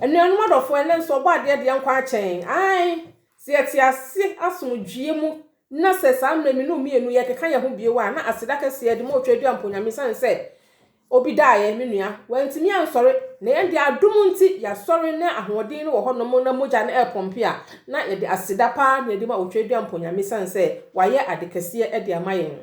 Anuanom adɔfoɔ, ɛnnɛ nso Ɔbɔadeɛ deɛ nkwa akyɛn. Ae, sɛ yɛte ase asomdwoeɛ mu na sɛ saa mmerɛ mmienu mmienu yɛkeka yɛn ho bio a, na aseda kɛseɛ yɛde ma Otwa Aduampɔ Nyame ɛsiane sɛ obi daeɛ, me nua, wantumi ansɔre, na yɛn deɛ adom nti yɛasɔre na ahoɔden no wɔ hɔnom na mogya no ɛrepɔmpe a, na yɛde aseda paa na yɛde ma Otwa Aduampɔ Nyame ɛsiane sɛ wayɛ ade kɛseɛ de ama yɛn.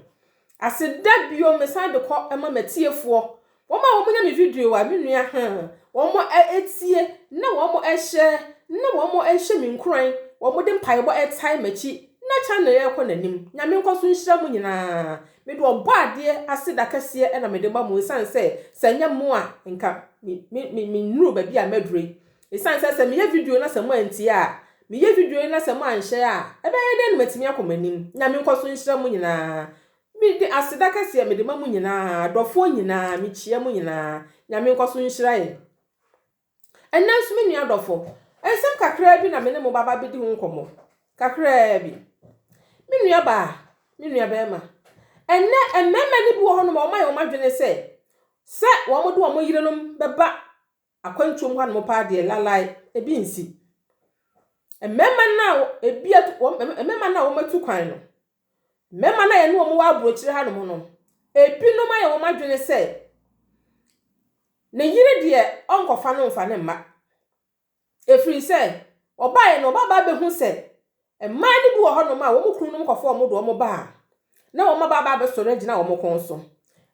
Aseda bio mesan de kɔ ma matiefoɔ wɔn a wɔn nya me video a me nua haa wɔn tie na wɔn share na wɔn hyɛ me nkuran wɔn de mpaebɔ tae makyi na channel yi ɛkɔ n'anim nyame nkɔ so nhyira mo nyinaa me de ɔbɔ adeɛ aseda kɛseɛ ɛna me de ma mo ɛsiane sɛ sɛ nyɛ mo a nka me me me me nnuru baabi a maduru yi Esiane sɛ sɛ meyɛ video na sɛ moantie a, meyɛ video yi na sɛ moanhyɛ a, ɛbɛyɛ dɛn na matumi akɔ m'anim? Nyame nkɔ so nhyira mo nyinaa. Mede aseda kɛseɛ mede ma mo nyinaa, adɔfoɔ nyinaa, mekyia mo nyinaa. Nyame nkɔ so nhyira yɛn. Ɛnnɛ nso me nua adɔfo, nsɛm kakraa bi na me ne mo bɛba abɛdi ho nkɔmmɔ. Kakraa bi. Me nua baa, me nua barima, ɛnnɛ mmarima no bi wɔ hɔnom a wɔayɛ wɔn adwene sɛ, sɛ wɔde wɔn yerenom bɛba akwantuo mu hanom paa deɛ lalae, ebi nsi. Mmarima no a ebi atu wɔn mmarima no a wɔatu kwan no, mmarima no a yɛne wɔn wɔ aburokyire hanom no, ebinom ayɛ wɔn adwene sɛ ne yere deɛ ɔnkɔfa no mfa ne mma. Ɛfiri sɛ, ɔbaeɛ no, ɔbabaa bɛhu sɛ Mmaa no bi wɔ hɔnom a wɔn kununom kɔfa wɔn de wɔn ba a, na wɔn mmabaa ba abɛsɔre agyina wɔn kɔn so.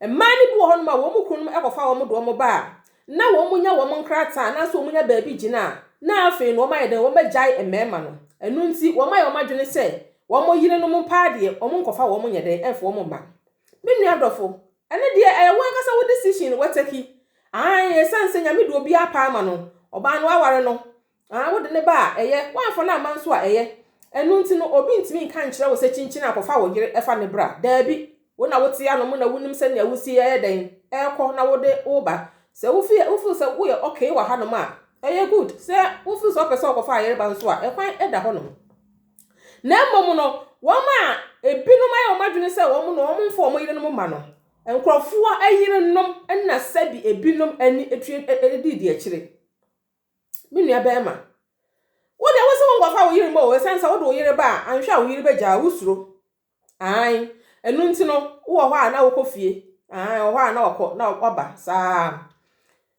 Mmaa no bi wɔ hɔnom a wɔn kununom kɔfa wɔn de wɔn ba a, na wɔnya wɔn nkrataa anaasɛ wɔnya baabi gyina a, na afei no wɔayɛ dɛn? Wɔagyae mmarima no. Ɛno nti, wɔayɛ wɔn adwene sɛ wɔn yerenom paa deɛ, wɔnkɔfa wɔn nyɛ dɛn? Ɛmfa wɔn mma. Me nua dɔfo, ɛno deɛ ɛyɛ wo ankasa wo decision, wataki. Aane, ɛsiane sɛ Nyame de obiara paa ma no, ɔbaa no aware no, Aah wode ne ba a, ɛyɛ. Woamfa no amma nso a, ɛyɛ. Ɛno nti no, obi ntumi nka nkyerɛ wo sɛ kyinkyin a, kɔfa wo yere fa no bra. Daabi. Wo na wote ano mu na wunim sɛnea wusi yɛ dɛn, kɔ na wode wo ba. Sɛ wo feel, wo feel sɛ woyɛ okay wɔ hanom a, ɛyɛ good. Sɛ wo feel sɛ wopɛ sɛ wokɔfa ayere ba nso a, ɛkwan da hɔnom. Na mmom no, wɔn a ebinom ayɛ wɔn adwene sɛ wɔn no, wɔmfa wɔn yerenom mma no. Nkurɔfoɔ yerenom na sɛbi ebinom ani twe di deɛ akyire. Me nua barima, wo deɛ wo se wo nkɔfa wo yere mu o, ɛsiane sɛ wode wo yere ba a, anhwɛ a wo yere bɛgyaa wo suro. Ae, ɛno nti no, wowɔ hɔ a na wokɔ fie. Ae, wɔ hɔ a na wakɔ na waba saa.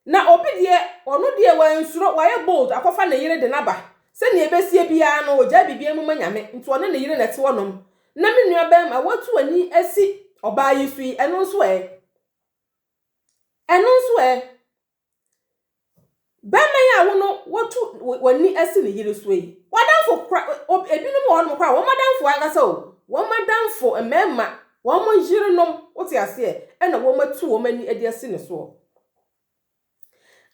Na obi deɛ, ɔno deɛ wansuro, wayɛ bold akɔfa ne yere de no aba. Sɛnea ɛbɛsie biara no, ɔgyaa biribiara mu ma Nyame, nti ɔne ne yere na ɛte hɔnom. Na me nua barima, woatu w'ani asi ɔbaa yi so yi, ɛno nso ɛ? Ɛno nso ɛ? Bɛma yi a wo no wotu w'ani asi ne yere so yi, w'adamfo kora, ebinom wɔ hɔnom kora, wɔn adamfo ankasa o, wɔn adamfo mmarima, wɔn yerenom, wote aseɛ, ɛna wɔn atu wɔn ani de asi ne soɔ.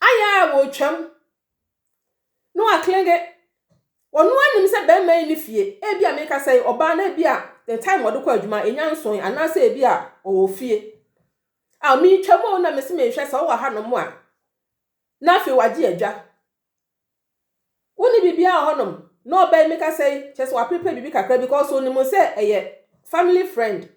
Ayɛ a wɔretwam, na waklenge, ɔno anim sɛ bɛrima yi ne fie, ebi a meka sɛ ɔbaa na ebi a the time ɔde kɔ adwuma enya nson anaasɛ ebi a ɔwɔ fie. Aw meretwam oo na mese menhwɛ sɛ wowɔ hanom a na afei wagye adwa. Wonni biribiara wɔ hɔnom na ɔbaa yi meka sɛ yi kyerɛ sɛ waprepare biribi kakra because onim sɛ ɛyɛ family friend.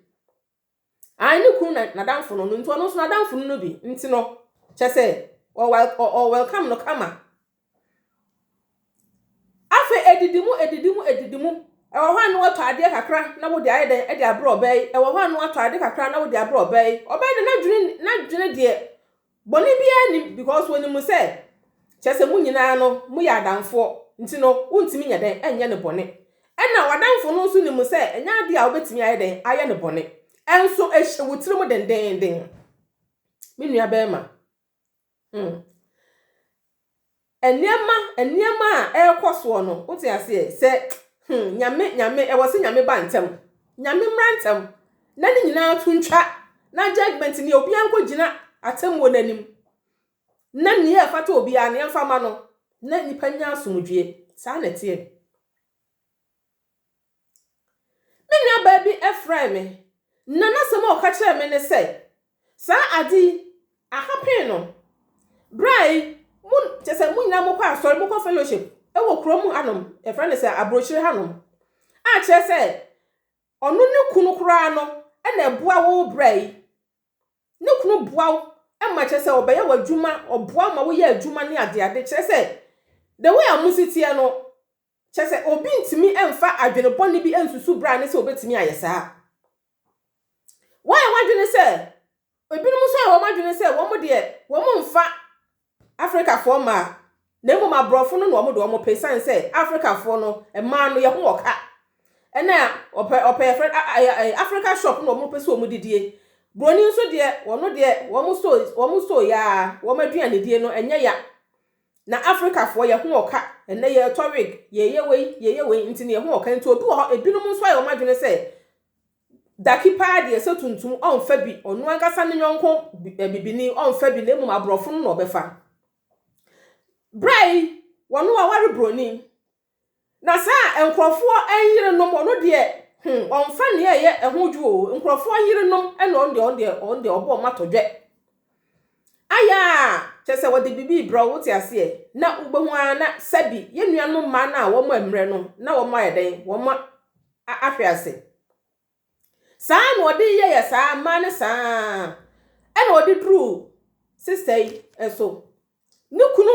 Ae ne kunu na n'adamfo no no nti ɔno nso n'adamfo no no bi nti no kyerɛ sɛ ɔ welcome no kama. Afei edidi mu, edidi mu, edidi mu. Ɛwɔ hɔ a na watɔ adeɛ kakra na wode ayɛ dɛn de abrɛ ɔbaa yi. Ɛwɔ hɔ a na watɔ ade kakra na wode abrɛ ɔbaa yi. Ɔbaa yi de n'adwene n'adwene deɛ bɔne biara nim because onim sɛ kyerɛ sɛ mo nyinaa no moyɛ adamfoɔ nti no wontumi nyɛ dɛn nyɛ no bɔne. Ɛna w'adamfo no nso nim sɛ ɛnyɛ adeɛ a wobɛtumi ayɛ dɛn ayɛ no bɔne. Ɛnso ɛhyɛ wo tirim dendeenden me nua barima. Hmm. Nneɛma, nneɛma a ɛrekɔ soɔ no, wote aseɛ sɛ hmm, nyame, nyame, ɛwɔ sɛ nyame ba ntɛm. Nyame mmra ntɛm. Na ne nyinaa to ntwa. Na judgment ni obiara nkɔ gyina atemmuo no anim. Na nea ɛfata obiara no yɛmfa ma no. Na nipa nya asomdwie. Saa na ɛteɛ. Me nuabaa bi frɛɛ me, na n'asɛm a ɔka kyerɛɛ me ne sɛ, Saa ade yi, aha pee no. Berɛ a yi, mo, kyerɛ sɛ mo nyinaa mokɔ asɔre, mokɔ fellowship wɔ kuro mu hanom, yɛfrɛ no sɛ aburokyire hanom, a kyerɛ sɛ ɔno ne kunu koraa no na ɛboa wo berɛ yi. Ne kunu boa wo ma kyerɛ sɛ ɔbɛyɛ w'adwuma, ɔboa ma woyɛ adwuma ne adeade. Kyerɛ sɛ, the way a mo si teɛ no, Kyerɛ sɛ, obi ntumi mfa adwene bɔne bi nsusu bere a ɛne sɛ obetumi ayɛ saa. Woayɛ w'adwene sɛ, ebinom nso ayɛ wɔn adwene sɛ wɔn deɛ wɔmfa Afrikafoɔ mmaa, na mmom aborɔfo no na wɔde wɔn pɛ esiane sɛ Afrikafoɔ no mmaa no yɛ ho wɔ ka. Ɛna ɔpɛ ɔpɛ yɛfrɛ no, a- a- a- a- Africa shop na wɔpɛ sɛ wɔn didie. Buroni nso deɛ wɔn deɛ wɔn so wɔn so yaa wɔn aduanedie no ɛnyɛ ya. Na Afrikafoɔ yɛ ho ɔka, ɛnnɛ yɛretɔ wig, yɛreyɛ wei, yɛreyɛ wei nti no yɛ ho ɔka nti obi wɔ hɔ ebinom nso ayɛ wɔn adwene sɛ Daki paa deɛ sɛ tuntum ɔnfa bi, ɔno ankasa ne yɔnko bibini ɔnfa bi na mmom aborɔfo no na ɔbɛfa. Berɛ yi wɔn aware buroni Na saa a nkurɔfoɔ yerenom, ɔno deɛ hmm, ɔmfa nea ɛyɛ ɛho dwo o, nkurɔfoɔ yerenom ɛna ɔno deɛ ɔno deɛ ɔno deɛ ɔbɔ ɔma tɔdwɛ. Ayɛ a kyɛ sɛ wɔde biribi rebrɛ wo wote aseɛ na wobɛhu ara na sɛbi yɛn nuanom mmaa no a wɔn mmerɛ no na wɔn ayɛ dɛn wɔn ahwe ase. Saa ara na ɔde yɛyɛ saa mmaa no saa ara na ɔde duruu sista yi nso. Ne kunu,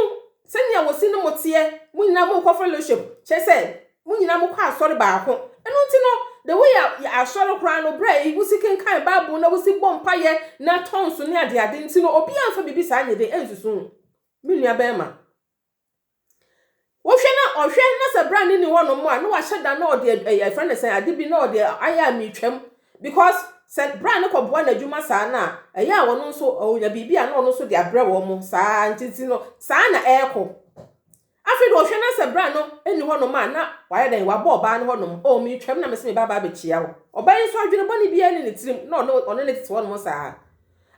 sɛnea wɔsi ne mo teɛ, mo nyinaa mokɔ fellowship, kyerɛ sɛ mo nyinaa mokɔ asɔre baako. Ɛno nti no, the way a yɛ asɔre koraa no, berɛ a wosi kenkan Bible na wosi bɔ mpaeɛ na tɔ nso ne adeade nti no, obiara mfa biribi saa nyɛ dɛ nsusu ho. Me nua barima, Wohwɛ na ɔhwɛ na sɛ bra ne ni hɔ nom a na wahyɛ da na ɔde ɛyɛ eh, ɛfrɛ ne sɛn ade bi na ɔde ayɛ a metwam because sɛ bra ne kɔboa n'adwuma saa no a ɛyɛ a wɔn nso ɔnya biribi a na ɔno nso de abrɛ wɔn mo saa ntinti no saa na ɛrekɔ afei de ɔhwɛ na sɛ bra no ni hɔ nom a na wayɛ dɛn wabɔ ɔbaa no hɔ nom ɔ metwam na mese me baabaa bɛkyia wo ɔbaa yi nso adwene bɔne biara ne ne tirim na ɔne ɔne ne tete hɔ nom saa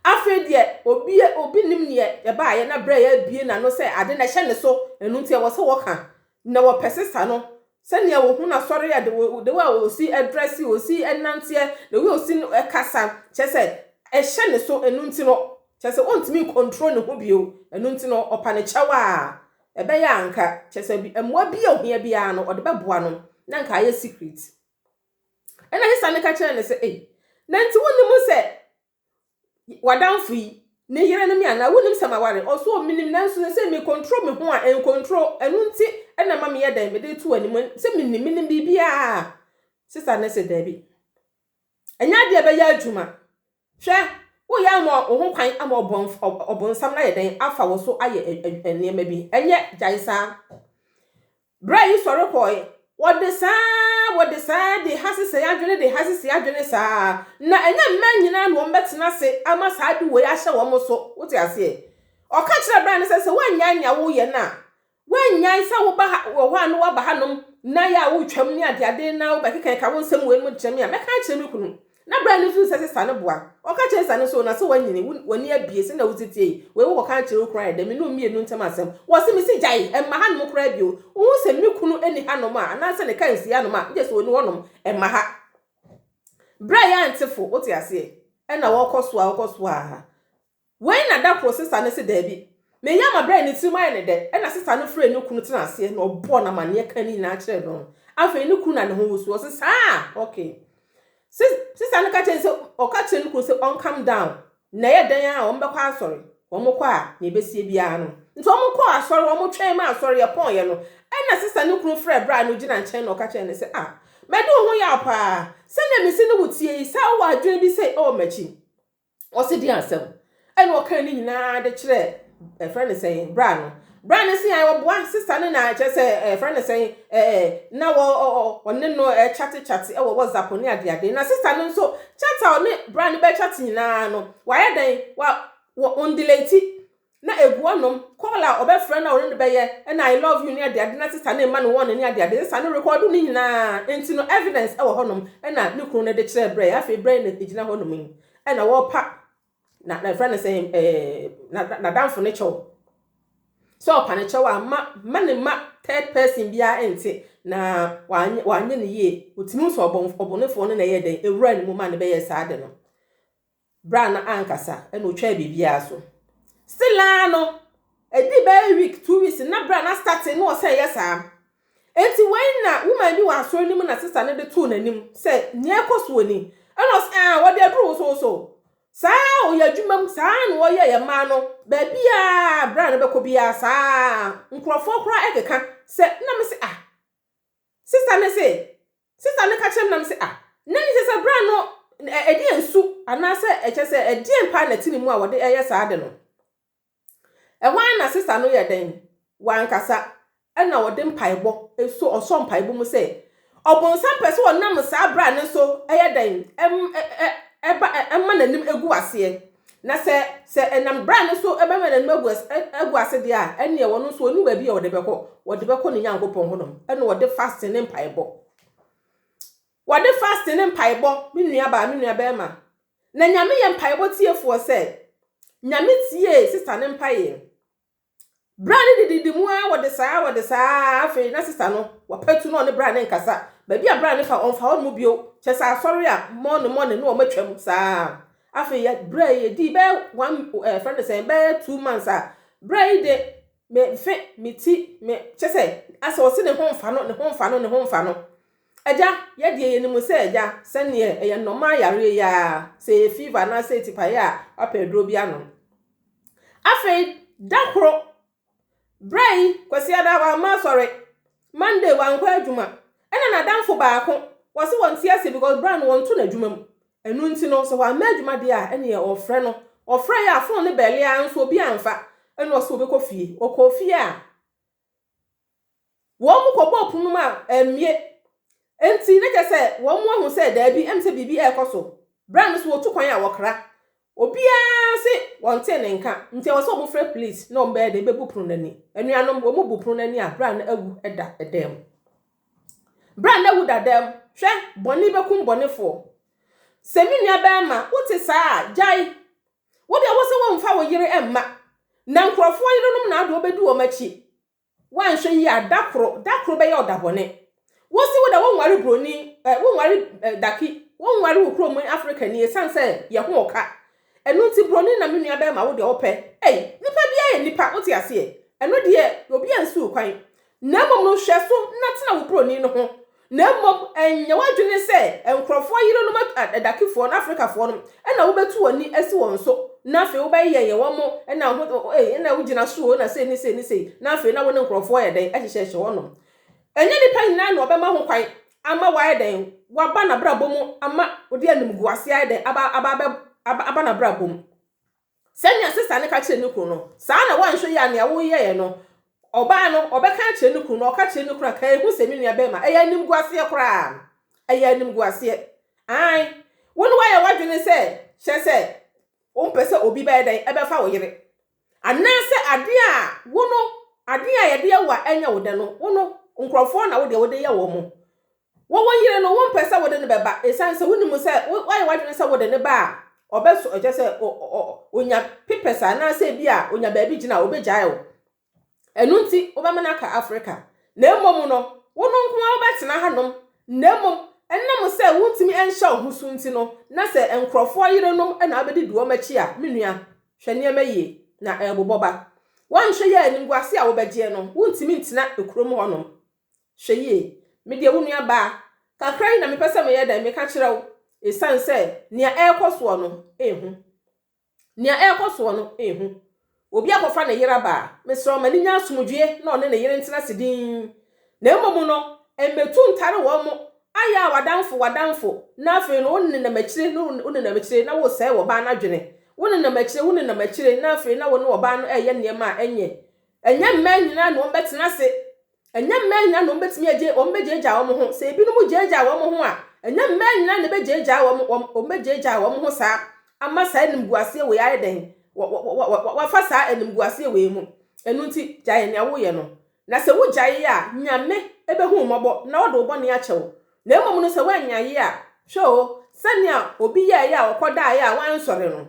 Afei deɛ, obi obi nnim neɛ yɛbaeɛ na berɛ a yɛabue n'ano sɛ ade no ɛhyɛ ne so, ɛno nti ɛwɔ sɛ wɔka na wɔpɛ sesa no, sɛdeɛ wɔhu no asɔre a, the way the way a ɔsi ɛdrɛse, ɔsi ɛnanteɛ, the way a ɔsi ɛkasa, kyerɛ sɛ ɛhyɛ ne so, ɛno nti no, kyerɛ sɛ ɔntumi ncontrol ne ho bio, ɛno nti no ɔpa no kyɛw a, ɛbɛyɛ a anka, kyerɛ sɛ mmoa bi a ɔhia biara no ɔde bɛboa no, na anka ayɛ secret. Ɛna sesa no ka kyerɛɛ no sɛ, ei, na nti wonnim sɛ w'adamfo yi, ne yere no me anaa? Wonim sɛ maware? Ɔso o, menim nanso sɛ sɛ me control me ho a, ɛn control, ɛno nti na ɛma meyɛ dɛn, mede to w'anim, sɛ menim, menim biribiara. Sista no se daabi, ɛnyɛ adeɛ a ɛbɛyɛ adwuma, hwɛ, woyɛ ama wo ho kwan ama ɔbonsam no ayɛ dɛn, afa wo so ayɛ nneɛma bi, ɛnyɛ, gyae saa. Berɛ a Esau rekɔeɛ, wɔde saa ara, wɔde saa ara, de ha sesɛe adwene, de ha sesɛe adwene saa ara. Na ɛnyɛ mmaa nyinaa na wɔbɛtena ase ama saa ade wei ahyɛ wɔn so. Wote aseɛ? Ɔka kyerɛ abirɛ no sɛ, sɛ woannyae nea woreyɛ no a, woannyae sɛ woba ha, wɔ hɔ a na woaba hanom, na yɛ a woretwam ne adeade, na wobɛkekakeka wo nsɛm wei nom de kyerɛ me a, mɛka akyerɛ me kunu. Na berɛ a no hunu sɛ sesa no boa, ɔka kyerɛ sesa no sɛ, o na sɛ woanyini, wo, w'ani abue, sɛdeɛ wo teteɛ yi, wei wo kɔka nkyerɛ wo kunu ayɛ dɛn, me ne wo mmienu ntam asɛm, wɔ se, me se gyae, mma hanom koraa bio, wohu sɛ me kunu nni hanom a, anaa sɛ ne car nsi hanom a, gye sɛ ɔni hɔnom, mma ha. Berɛ a yɛante fo, wote aseɛ, ɛna wɔkɔ so a, wɔkɔ so a, Wei na da koro sista no se daabi. Ne yam abrɛ ne tirim ayɛ no dɛ ɛna sista no frɛɛ ne kunu tenaa aseɛ na ɔbɔɔ no amanneɛ kaa ne nyinaa kyerɛɛ no. Afei ne kunu na ne ho wosu. Ɔse saa a ok. Sis, sista no ka kyerɛɛ no sɛ ɔka kyerɛ ne kunu sɛ ɔn calm down na ɛyɛ dɛn a wɔn bɛkɔ asɔre. Wɔn kɔ a nea ɛbɛsie biara no. Nti wɔn kɔɔ asɔre, wɔn twɛn ma asɔre yɛ pɔɔeɛ no ɛna sista no kunu frɛɛ bra no gyina nkyɛn na ɔka kyerɛɛ no sɛ ah madi wo ho yaw paa sɛdeɛ mese ne wo tie yi saa wowɔ adwene bi sei ɛwɔ m'akyi. Ɔse deɛ asɛm ɛna ɔkaa ne nyinaa de kyerɛ ɛfrɛ ne sɛn bra no bra no se a ɔboa ne sista no na kyerɛ sɛ ɛfrɛ ne sɛn ɛɛ na wɔ ɔne no ɛkyate kyate ɛwɔ whatsapp ne adeade na sista no nso chat a ɔne bra no bɛkyate nyinaa no wayɛ dɛn wa wɔn delete Na egu anom, call a ɔbɛfrɛ no a ɔne no bɛyɛ na I love you ne adeade na sista no mma no wɔn ne adeade nsa no rekɔɔdo ne nyinaa nti no evidence ɛwɔ hɔnom na ne kunu no de kyerɛɛ Brɛ afei Brɛ na egyina hɔnom yi na wɔrepa na na ɛfrɛ no sɛ ɛɛ n'adamfo ne kyɛw sɛ ɔpa ne kyɛw a ma ma ne ma third person biara nte na wanyɛ wanyɛ ne yie otumi nso ɔbɔn ɔbɔnefoɔ no na ɛyɛ dɛn ewura ne mu ma ne bɛyɛ saa de no Bere a na ankasa na otwaa biribiara so. Still ara no, ɛdi bɛyɛ week, two weeks, na bere a na starting na ɔsɛ yɛ saa. Enti wei na woman bi wɔ asɔre no mu na sista no de too n'anim sɛ nea ɛkɔ so wɔ ni. Ɛna ɔsɛ, ah, wɔde aduru wosowoso. Saa a ɔyɛ adwuma mu, saa na ɔyɛ yɛ mmaa no. Baabi a bere a no bɛkɔ biara saa. Nkurɔfoɔ koraa ɛkeka sɛ, na me se, ah, sista no se, Sista no ka kyerɛɛ me na mese, Ah, na ɛnte sɛ bra no ɛdeɛ nsu anaasɛ ɛkyɛ sɛ ɛdeɛn paa na ɛte ne mu a wɔde ɛyɛ saa ade no. Ɛhɔ ara na sista no yɛ dɛn? Wankasa ɛna ɔde mpaebɔ ɛso ɔsɔ mpaebɔ mu sɛ ɔbonsam pɛ sɛ ɔnam saa bra no so ɛyɛ dɛn? Ɛm, ɛ, ɛ, ɛba, ɛ, ɛma n'anim ɛgu aseɛ. Na sɛ, sɛ ɛnam bra no so bɛma n'anim agu as, agu ase deɛ a, ɛnneɛ ɔno nso ɔni baabi a ɔde bɛkɔ. Ɔde bɛkɔ ne Nyankopɔn hɔnom. Ɛna ɔde fasting ne mpaebɔ. Wɔde fasting ne mpaebɔ, me nuabaa, me nuabɛrima. Na Nyame yɛ mpaebɔ tiefoɔ sɛ, Nyame tiee sister no mpaeɛ. Bra ne dididi mu ara wɔde saa wɔde saa ara afei na sista no wapatu na ɔne bra ne nkasa baabi a bra ne fa ɔmfa hɔ no mu bio kyɛ sɛ asɔre a mɔne mɔne na wɔatwam saa afei yɛ bra yi yɛdii bɛyɛ one ɛɛ fɛn ne sɛn bɛyɛ two months a bra yi de me mfe me ti me kyɛ sɛ asɛ ɔse ne ho mfa no ne ho mfa no ne ho mfa no agya yɛdeɛ yɛnim sɛ agya sɛneɛ ɛyɛ nnɔma yareɛ yi a sɛ ɛyɛ fever anaasɛ ɛtipaeɛ a wapɛ aduro bi anom Afei da koro, berɛ yi, Kwasiada wamma asɔre, Monday wankɔ adwuma, ɛna n'adamfo baako, wɔse wɔnte ase because berɛ no wɔnto n'adwuma mu. Ɛno nti no, sɛ wamma adwuma deɛ a, ɛneɛ wɔfrɛ no. Wɔfrɛeɛ a, phone no bɛle ara nso obi amfa, ɛna ɔse ɔbɛkɔ fie. Ɔkɔɔ fie a. Wɔkɔbɔɔ pon no mu a, ammue. Enti na kyerɛ sɛ wɔahu sɛ daabi, ɛm sɛ biribi rekɔ so. Bere a no so wɔtu kwan a, wɔkra. Obiara se wɔntee ne nka, nti ɛwɔ sɛ wɔfrɛ police na wɔbɛyɛ dɛn bebu pono no ani. Anuanom, wɔbu pono no ani a, bere a na awu da dan mu. Bere a na awu da dan mu, hwɛ, bɔne bɛkum bɔnefoɔ. Sɛ me nuabarima, wote saa a, gyae. Wo deɛ wose womfa wo yere mma na nkurɔfoɔ yerenom na ade ɔbɛdi wɔn akyi. Woanhwɛ yie a da koro, da koro bɛyɛ ɔda bɔne. Wose wo deɛ wonware buroni, eh, wonware eh, daki, wonware wo kurom Afrikani ɛsiane sɛ yɛ ho ɔka. Ɛno nti buroni na me nua bɛrima wo deɛ wopɛ. Ei, nipa biara yɛ nipa, wote aseɛ? Ɛno deɛ obiara nsi wo kwan. Na mmom no, nhwɛso na tena wo buroni no ho, na mmom nyɛ w'adwene sɛ nkurɔfoɔ yerenom adakefoɔ no, Afrikafoɔ no, na wobɛtu w'ani asi wɔn so, na afei wobɛyɛ yɛ wɔn, na wo ho, o ei, na wogyina so o, na sei ne sei ne sei, na afei na wo ne nkurɔfoɔ yɛ dɛn, hyehyɛhyɛ hɔnom. Ɛnyɛ nnipa nyinaa na wɔbɛma ho kwan ama wɔayɛ dɛn, wɔaba n'abrabɔ mu ama wode animguaseɛ ayɛ dɛn, aba, aba, aba, aba n'abrabɔ mu. Sɛnea sista no ka kyerɛɛ ne kunu no, saa ara na woanhwɛ yie a nea woyɛe no, ɔbaa no, ɔbɛka akyerɛ ne kunu, na ɔka kyerɛ ne kunu a, kae hu sɛ me nuabarima, ɛyɛ animguaseɛ koraa. Ɛyɛ animguaseɛ. Aane. Wo ne woayɛ w'adwene sɛ, kyerɛ sɛ, wompɛ sɛ obi bɛyɛ dɛn? Ɛbɛfa wo yere. Anaasɛ adeɛ a wo no, adeɛ a yɛde yɛ wo a ɛnyɛ wo dɛ no, wo no, nkurɔfoɔ na wo deɛ wode yɛ wɔn. Wo wo yere no, wompɛ sɛ wode no bɛba esiane sɛ wunim sɛ woayɛ w'adwene sɛ wode no ba a, ɔbɛsɔ, ɛkyerɛ sɛ, onya pepɛs anaasɛ ebia onya baabi gyina a, obegyae wo. Ɛno nti, wobɛma no aka Afrika. Na mmom no, wo no nko ara wobɛtena hanom. Na mmom, ɛnam sɛ wuntumi nhyɛ wo ho so nti no, na sɛ nkurɔfoɔ yerenom na wobɛdidi wɔn akyi a, me nua, hwɛ nneɛma yie, na ɛrebobɔ ba. Woanhwɛ yie a, animguase a wobɛgyeɛ no, wuntumi ntena kurom hɔnom. Hwɛ yie. Me deɛ, wo nuabaa, kakra yi na mepɛ sɛ meyɛ dɛn meka kyerɛ wo, ɛsiane sɛ nea ɛrekɔ soɔ no, ɛhu. Nea ɛrekɔ soɔ no, ɛhu. Obi akɔfa ne yere aba a, mesrɛ wo ma no nya asomdwoeɛ na ɔne ne yere ntena ase dinn. Na mmom no, mmɛtu ntare wɔn, ayɛ a w'adamfo, w'adamfo, na afei no wonenam akyire na wonenam akyire na woresɛe ɔbaa no adwene. Wonenam akyire, wonenam akyire na afei na wo ne ɔbaa no reyɛ nneɛma a ɛnyɛ. Ɛnyɛ mmaa nyinaa na wɔbɛtena ase Ɛnyɛ mmaa nyinaa na wɔbɛtumi agye, wɔbɛgyaagyaa wɔn ho. Sɛ ebinom gyaagyaa wɔn ho a, ɛnyɛ mmaa nyinaa na ɛbɛgyaagyaa wɔn, wɔn, wɔbɛgyaagyaa wɔn ho saa ama saa animguaseɛ wei ayɛ dɛn? Wɔ, wɔ, wɔ, wɔ, wɔ, wɔafa saa animguaseɛ wei mu. Ɛno nti, gyae nea woyɛ no. Na sɛ wogyae a, Nyame bɛhu wo mmɔbɔ na ɔde wo bɔne akyɛ wo. Na mmom no sɛ woannyae a, hwɛ o, sɛnea obi yɛeɛ a ɔkɔdaeɛ a wansɔre no,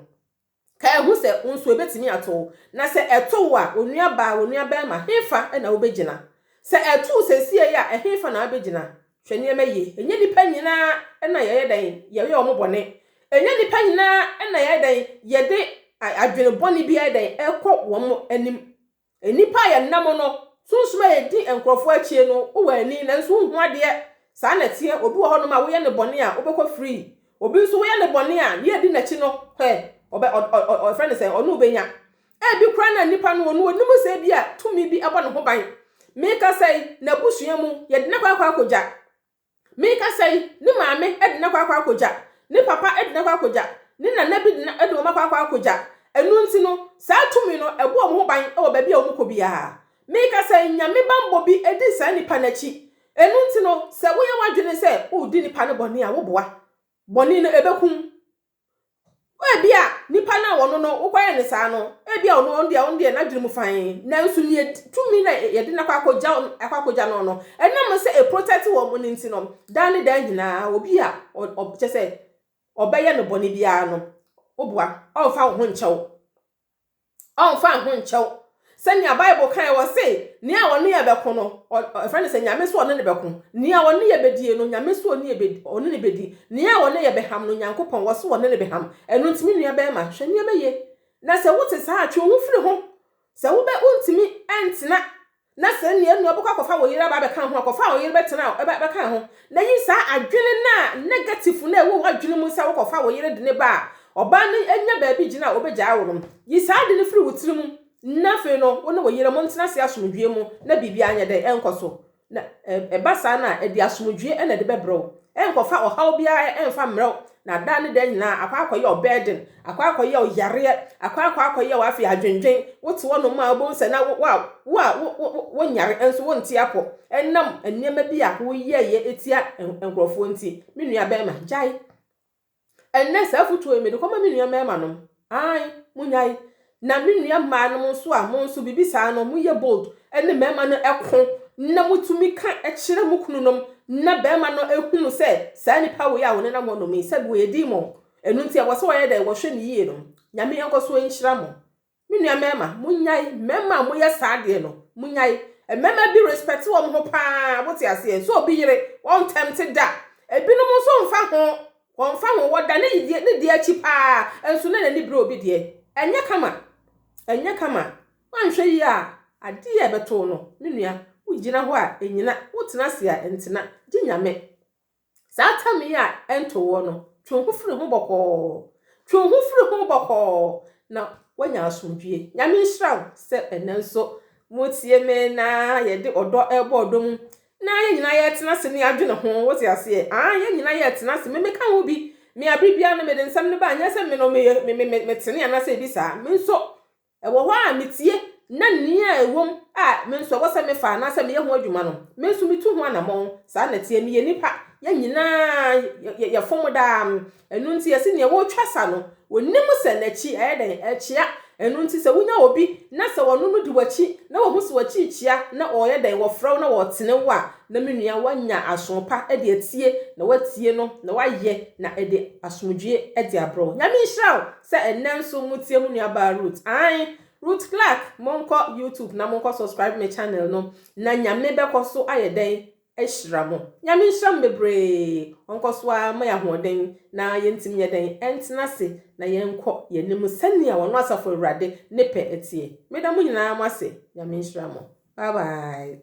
Kae hu sɛ wo nso ebetumi ato wo, na sɛ ɛto wo a, wo nuabaa, wo nuabarima, hefa na wubegyina? Sɛ ɛto wo seesei yi a, ɛhefa na abegyina? Hwɛ nneɛma yiye. Ɛnyɛ nnipa nyinaa na yɛyɛ dɛn? Yɛyɛ wɔn bɔne. Ɛnyɛ nnipa nyinaa na yɛyɛ dɛn? Yɛde adwene bɔne bi ayɛ dɛn? Ɛkɔ wɔn anim Nnipa a yɛnna mu no, sunsum a edi nkurɔfo akyi no, wowɔ ani nanso wunhu adeɛ. Saa na ɛteɛ, obi wɔ hɔnom a woyɛ no bɔne a, wobɛkɔ free. Obi nso, woyɛ no bɔne a, nea edi n'akyi no, hwɛ, ɔbɛ, ɔ, ɔ, ɔ, yɛfrɛ no sɛn, ɔno wobɛnya. Ebi koraa na nipa no, ɔno ɔnim sɛ ebia tumi bi bɔ ne ho ban. Mekasa yi, n'abusua mu, yɛde no akɔ akɔ akɔgya. Merekasa yi, ne maame de no akɔ akɔ akɔgya, ne papa de no akɔ akɔgya, ne nana bi de no de wɔn akɔ akɔ akɔgya. Ɛno nti no, saa tumi no bɔ wɔn ho ban wɔ baabi a wɔkɔ biara. Merekasa yi, nyame bammɔ bi di saa nipa no akyi. Ɛno nti no, sɛ woyɛ w'adwene sɛ woredi nipa no bɔne a, woboa. Bɔne no bɛku wo. Ebia nipa no a ɔno no wokɔyɛ no saa no, ebia ɔno ɔno deɛ ɔno deɛ n'adwene mu fann. Nanso nea edi- tumi na yɛ- yɛde no akɔ akɔgya no- akɔ akɔgya no no, ɛnam sɛ ɛprotɛte wɔn no nti no, daa ne daa nyinaa, obi a ɔ- ɔ- kyerɛ sɛ ɔbɛyɛ no bɔne biara no, woboa, ɔmfa wo ho nkyɛ wo. Ɔmfa ho nkyɛw sɛnea Bible kae, ɔse, Nea ɔne yɛ bɛko no, ɔfrɛ no sɛ Nyame so ɔne no bɛko. Nea ɔne yɛ bɛdie no, Nyame so ɔne no bɛdi. Nea ɔne yɛ bɛham no, Nyankopɔn, ɔse ɔne no bɛham. Ɛno nti, me nua bɛɛma, hwɛ nneɛma yie. Na sɛ wote saa a, twe wo ho firi ho. Sɛ wobɛ, wontumi ntena Na sɛ nea nua bɛkɔ akɔfa ɔyere aba abɛka ho a, kɔfa a ɔyere bɛtena a ɛbɛka ho. Na yi saa adwene no a negative no a ɛwɔ w'adwene mu sɛ wokɔfa ɔyere de no ba a, ɔbaa no anya baabi gyina a ɔbɛgyaa wo no. Yi saa ade no firi wo tiri mu na afei no wo ne wo yere montena ase asomdwoeɛ mu na biribiara nyɛ dɛn? Ɛnkɔ so. Na ɛba saa no a, ɛde asomdwoeɛ na ɛde bɛbrɛ wo. Ɛnkɔfa ɔhaw biara ɛmfa mmrɛ wo, na daa ne daa nyinaa akɔ akɔyɛ ɔbɛɛden Akɔ akɔyɛ wo yareɛ, akɔ akɔ akɔyɛ wo afei adwendwen, wote hɔ nom a wobɛhu sɛ na wo a wo a wo wo wo nyare nso wonte apɔ ɛnam nneɛma bi a woyɛeɛ ɛtia nkorɔfoɔ nti. Me nua bɛɛma gyae. Ɛnnɛ saa afutuo yi mede kɔma me nua mɛɛma nom. Ae monyae. Na me nua mmaa nom nso a mo nso biribi saa no mo yɛ bold ɛne mɛɛma no ɛko na mo tumi ka ɛkyerɛ mo kunu nom na bɛɛma no ɛhunu sɛ saa nipa wei a wɔnenam hɔ nom yi sɛbi wɔyɛ demon Ɛno nti ɛwɔ sɛ wɔyɛ dɛn? Wɔhwɛ no yie no. Nyame nkɔ so nhyira mo. Me nua mmarima, monyae. Mmarima a moyɛ saa adeɛ no, monyae. Mmarima bi respect wɔn ho pa ara, wote aseɛ? Sɛ obi yere, wɔn tempt da. Ebinom nso mfa ho, wɔmfa ho, wɔda ne deɛ ne deɛ akyi pa ara, nso na n'ani bere obi deɛ. Ɛnyɛ kama. Ɛnyɛ kama. Woanhwɛ yie a, adeɛ a ɛbɛto wo no, me nua, wogyina hɔ a, ɛnyina. Wotena ase a, ɛntena. Gye Nyame. Saa atemmu yi a ɛnto woɔ no, twe wo ho firi ho bɔkɔɔ. Twe wo ho firi ho bɔkɔɔ na woanya asomdwoeɛ. Nyame nhyira wo sɛ ɛnnɛ nso motie me na yɛde ɔdɔ rebɔ ɔdɔ mu na yɛn nyinaa yɛretena ase ne adwene ho. Wote aseɛ? Ah, yɛn nyinaa yɛretena ase. Me meka wo bi. Me abere biara no mede nsɛm no ba, nyɛ sɛ me no meyɛ me me me metene anaasɛ ebi saa. Me nso Ɛwɔ hɔ a mitie na nea ɛwom a me nso ɛwɔ sɛ mefa anaasɛ meyɛ ho adwuma no, me nso mitu ho anammɔn. Saa na ɛteɛ. Meyɛ nipa. Yɛn nyinaa yɛfom daa. Ɛno nti yɛse nea ɔretwa sa no, onim sɛ n'akyi ayɛ dɛn? Ɛrekyea. Ɛno nti sɛ wunya obi na sɛ ɔno no di w'akyi na wahu sɛ w'akyi rekyea na ɔreyɛ dɛn? Ɔfrɛ wo na ɔtene wo a, na me nua woanya aso pa de atie na woatie no na woayɛ na ɛde asomdwoe de abrɛ wo. Nyame nhyira wo. Sɛ ɛnnɛ nso motie mo nuabaa Ruth aane Ruth Clark monkɔ YouTube na monkɔ subscribe me channel no na Nyame bɛkɔ so ayɛ dɛn ahyira mo Nyame nhyira mo bebree ɔnkɔ so ara ma yɛ ahoɔden na yɛntumi nyɛ dɛn ɛntena ase na yɛnkɔ yɛ anim sɛnea ɔno Asafo Awurade ne pɛ teɛ meda mo nyinaa mo ase Nyame nhyira mo bye bye.